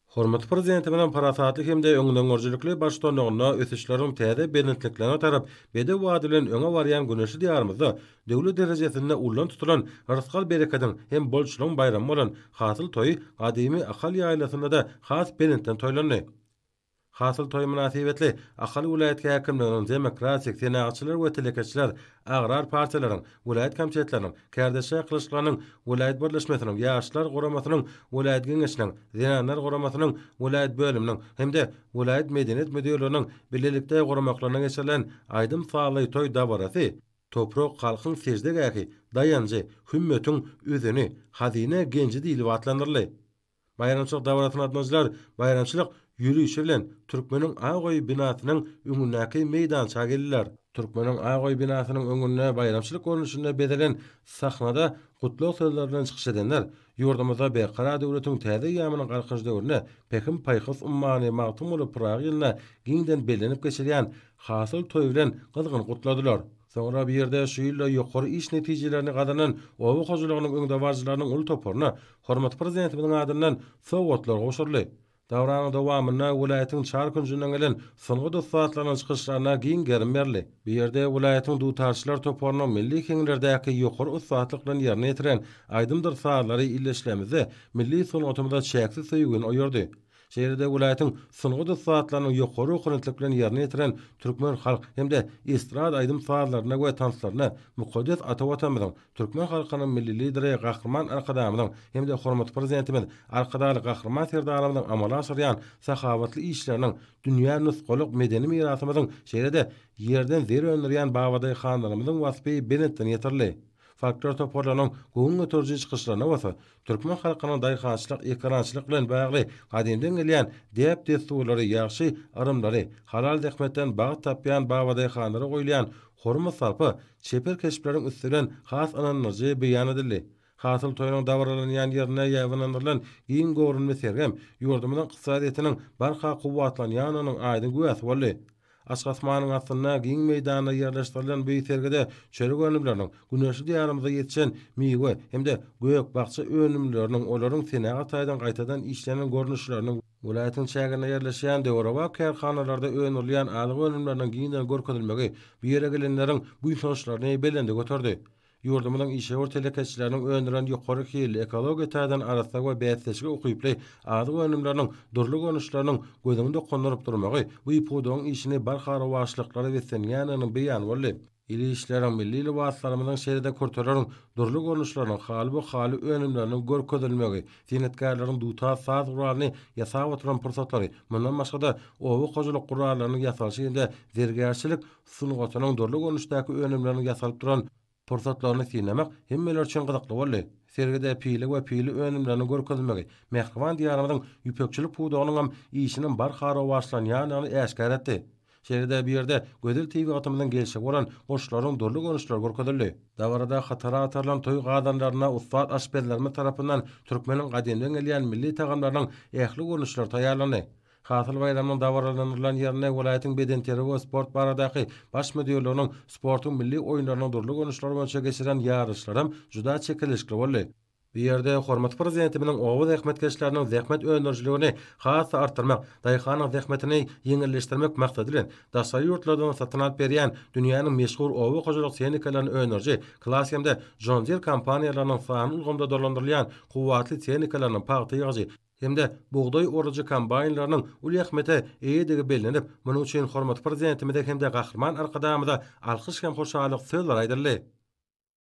Hormatly Prezidentimiziň parasatly hem-de öňdengörüjilikli baştutanlygynda ösüşleriň täze belentliklerine tarap bedew bady bilen öňe barýan güneşli Diýarymyzda döwlet derejesinde ullan tutulan rysgal-berekediň hem bolçulygyň baýramy bolan Hasyl toýy gadymy Ahal ýaýlasynda-da has belentden toýlandy. Hasyl toýy mynasybetli Ahal welaýat häkimliginiň Demokratik, Senagatçylar we telekeçiler agrar partiýalaryň welaýat komitetleriniň, Kärdeş çakylyşyklarynyň welaýat birleşmesiniň, Ýaşlar guramasynyň welaýat geňeşiniň, Zenanlar guramasynyň welaýat bölüminiň hem-de welaýat medeniýet müdirliginiň bilelikde guramaklaryna geçirilen aýdym-sazly toý dabarasy Toprak halkyň seždegähi, daýanjy, hümmetiň üzüni, hazyna genji diýlip atlandyryldy. Baýramçylyk dabarasyna gatnaşyjylar baýramçylyk ýörişi bilen Türkmeniň ak öýi binasynyň öňündäki meýdança geldiler. Türkmeniň ak öýi binasynyň öňünde baýramçylyk görnüşinde bezelen sahnada gutlag sözleri bilen çykyş edenler ýurdumyzda Berkarar döwletiň täze eýýamynyň Galkynyş döwründe Pähim-paýhas ummany Magtymguly Pyragy ýylynda giňden bellenip geçilýän Hasyl toýy bilen gyzgyn gutladylar. Soňra bu ýerde şu ýylda ýokary iş netijelerini gazanan oba hojalygynyň öňdebaryjylarynyň uly toparyna hormatly Prezidentimiziň adyndan sowgatlar gowşuryldy. Dabaraň dowamynda welaýatyň çar künjünden gelen sungat ussatlarynyň çykyşlaryna giň gerim berildi. Bu ýerde welaýatyň dutarçylar toparynyň milli heňlerdäki ýokary ussatlyk bilen ýerine ýetiren aýdymdyr sazlary ildeşlerimizde milli sungatymyza çäksiz söýgini oýardy. Şeýle-de welaýatyň sungat ussatlarynyň ýokary ownatlyk bilen ýerine ýetiren türkmen halk hem-de estrada aýdym-sazlaryna we tanslaryna mukaddes ata Watanymyzyň, türkmen halkynyň Milli Lideri Gahryman Arkadagymyzyň hem-de hormatly Prezidentimiz Arkadagly Gahryman Serdarymyzyň amala aşyrýan sahawatly işleriniň, dünýä nusgalyk medeni mirasymyzyň, şeýle-de Ýerden zer öndürýän babadaýhanlarymyzyň waspy belentden ýetirildi. Folklor toparlarynyň göwün göteriji çykyşlaryna bolsa türkmen halkynyň daýhançylyk, ekerançylyk bilen bagly gadymdan gelýän däp-dessurlary, ýagşy yrymlary, halal zähmetden bagt tapýan babadaýhanlara goýulýan hormat-sarpa, çeper keşpleriň üsti bilen has ynandyryjy beýan edildi. Hasyl toýunyň dabaralanýan ýerinde ýaýbaňlandyrylan giň göwrümli sergem ýurdumyzyň ykdysadyýetiniň barha kuwwatlanýanynyň aýdyň güwäsi boldy. Açyk asmanyň astynda giň meýdanda ýerleşdirilen bu sergide çörek önümleriniň, güneşli Diýarymyzda ýetişen miwe hem-de gök-bakja önümleriniň, olaryň senagat taýdan gaýtadan işlenen görnüşleriniň, welaýatyň çäginde ýerleşýän döwrebap kärhanalarda öndürilýän azyk önümleriniň giňden görkezilmegi bu ýere gelenleriň buýsançlaryny belende göterdi. Ýurdumyzyň işewür telekeçileriniň öndüren ýokary hilli, ekologiýa taýdan arassa we bäsdeşlige ukyply azyk önümleriniň dürli görnüşleriniň gözüňi dokundyryp durmagy bu pudagyň işini barha rowaçlyklara beslenýändiginiň beýany boldy. Il işleriň, milli lybaslarymyzyň şeýle-de kürteleriň dürli görnüşleriniň, halyby-haly önümleriniň görkezilmegi, senetkarlaryň dutar saz guralyny ýasap oturan pursatlary, mundan başga-da, oba hojalyk gurallarynyň ýasalyşy hem-de zergärçilik, sungatynyň dürli görnüşdäki önümlerini ýasalyp duran pursatlaryny synlamak hemmeler üçin gyzykly boldy. Sergide pile we pile önümleriniň görkezilmegi mähriban Diýarymyzyň ýüpekçilik pudagynyňam işiniň barha rowaçlanýandygyny äşgär etdi. Şeýle-de bu ýerde gözel tebigatymyzyň gelşigi bolan guşlaryň dürli görnüşleri görkezildi. Dabarada hatara atarylan toý gazanlaryna ussat aşpezlerimiz tarapyndan türkmeniň gadymdan gelýän milli tagamlarynyň ähli görnüşleri taýýarlandy. Hasyl baýramynyň dabaralandyrylan ýerinde welaýatyň bedenterbiýe we sport baradaky Baş müdirliginiň sportuň milli oýunlarynyň dürli görnüşleri boýunça geçirilen ýaryşlar hem juda çekeleşikli boldy. Bu ýerde hormatly Prezidentimiziň oba zähmetkeşleriniň zähmet öndürijiligini has-da artdyrmak, daýhanyň zähmetini ýeňilleşdirmek maksady bilen, daşary ýurtlardan satyn alyp berýän dünýäniň meşhur oba hojalyk tehnikalaryny öndüriji Claas hem-de John Deere kompaniýalarynyň sanly ulgamda dolandyrylýan kuwwatly tehnikalaryny, pagta ýygyjy, hem-de bugdaý orujy kombaýnlarynyň uly ähmiýete eýedigi bellenip, munuň üçin hormatly Prezidentimize hem-de Gahryman Arkadagymyza alkyş hem hoşallyk sözleri aýdyldy.